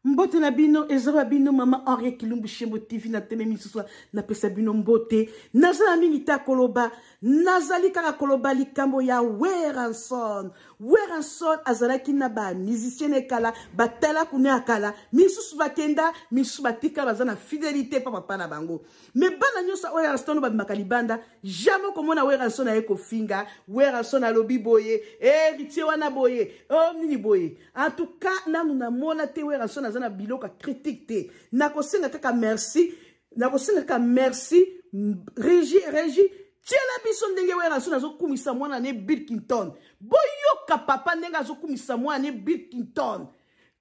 mbote na bino eza ba bino mama henriet kilumbu shembo tv na teme misusu napesa bino mbote naza na mingi te koloba nazali kaka koloba likambo ya weranson weranson azalaki na bamusicien ya kala batala kuna ya kala misusu bakenda misusu batika baza na fidelité mpa papa na bango me bana nyonso oyo erason babimaka libanda jamai okomona werason aye kofinga werason alobi boye eritie eh, wana boye o oh, nini boye antuka nanu namona te werason aza na biloko critique te nakosenga kaka merci nakosenga kaka merci regi regi tiela biso ndenge werason azokumisa mwana ne bilkington boyoka papa ndenge azokumisa mwana ne bilkington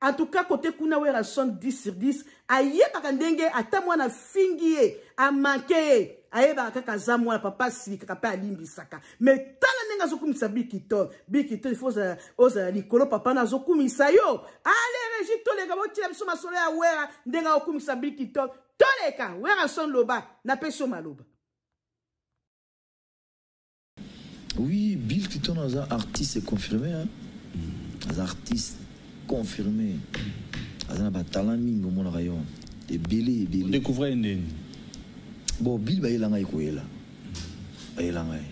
En tout cas, côté Kuna Werrason 10 sur 10, ayebaka ndenge ata mwana fingi ye, amanke ye, ayebaka kaka aza mwana papa asilikaka mpe alimbisaka. Mais tala ndenge azokumisa Bikito, Bikito il faut ozala likolo papa na azokumisa yo. Ale Regi toleka botia biso masolo ya Wera ndenge akumisa Bikito, toleka Werrason loba napesi yo maloba. Oui Bill Clinton aza artiste confirme hein. Aza artiste confirme. Aza na ba talent mingi omonaka yo. Ebele ebele. Découvrir ndenge. Bon Bill ba yela ngai koyela. Ba yela ngai.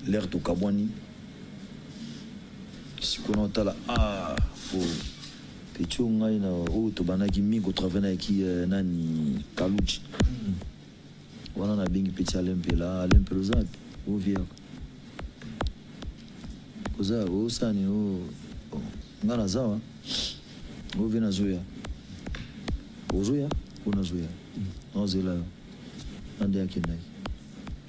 L'air to kabwani. Sikona otala ah oh. Petit ngai na oh to banaki mingi ko travailler na ki euh, nani Kaluji. Mm. Wana na bengi petit Alain Mpela ah Alain Mpela oza wapi o vie yako oza osala nini o oh, oh, nga naza wa o vie nazoya ozoya o nazoya naozela yo na nde akendaki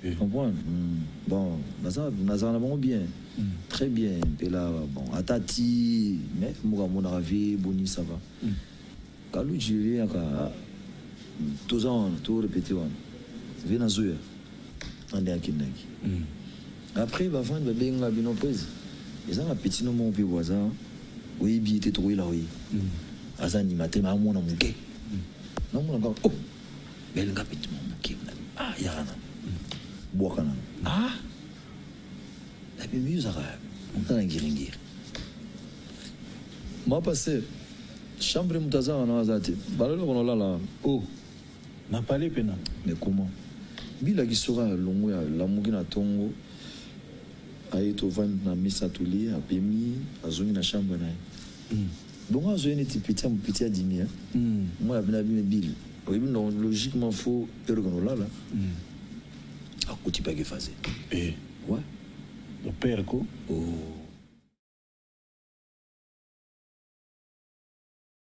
eh. comprendre hmm. bon naza nazala na bango bien hmm. très bien Mpela bon ata ti mais moka amonaka vie boni ça va hmm. Kaludji oyaka toza wana to repete wana vie nazo ya nga nde akendaki après ba fans ba benga bino prez eza na petit no moko pe bo aza oyebi ye te toko yela yo ye aza animateur mais azo mona muke nazo mona kaka oh belle nga petit mwa muke ah yaka nanu bwaka nanu ah Nabimi ozalaka nga na ngiringiri ma pasteur chambre mutu aza wana aza te bala eloko na olala wana oh na pale pe na mais comment bila kisoka ya longo ya lamuki na tongo aye tovandi na mesa tolie apemi azongi na chambre na ye mm. donc azo ye neti peti ya mopeti adimi ya mm. mwana pena abimi bile oyebi logiquement fo eloko na olala mm. Akuti pe akefaze. Eh. Ouais. Mon père ko. Oh.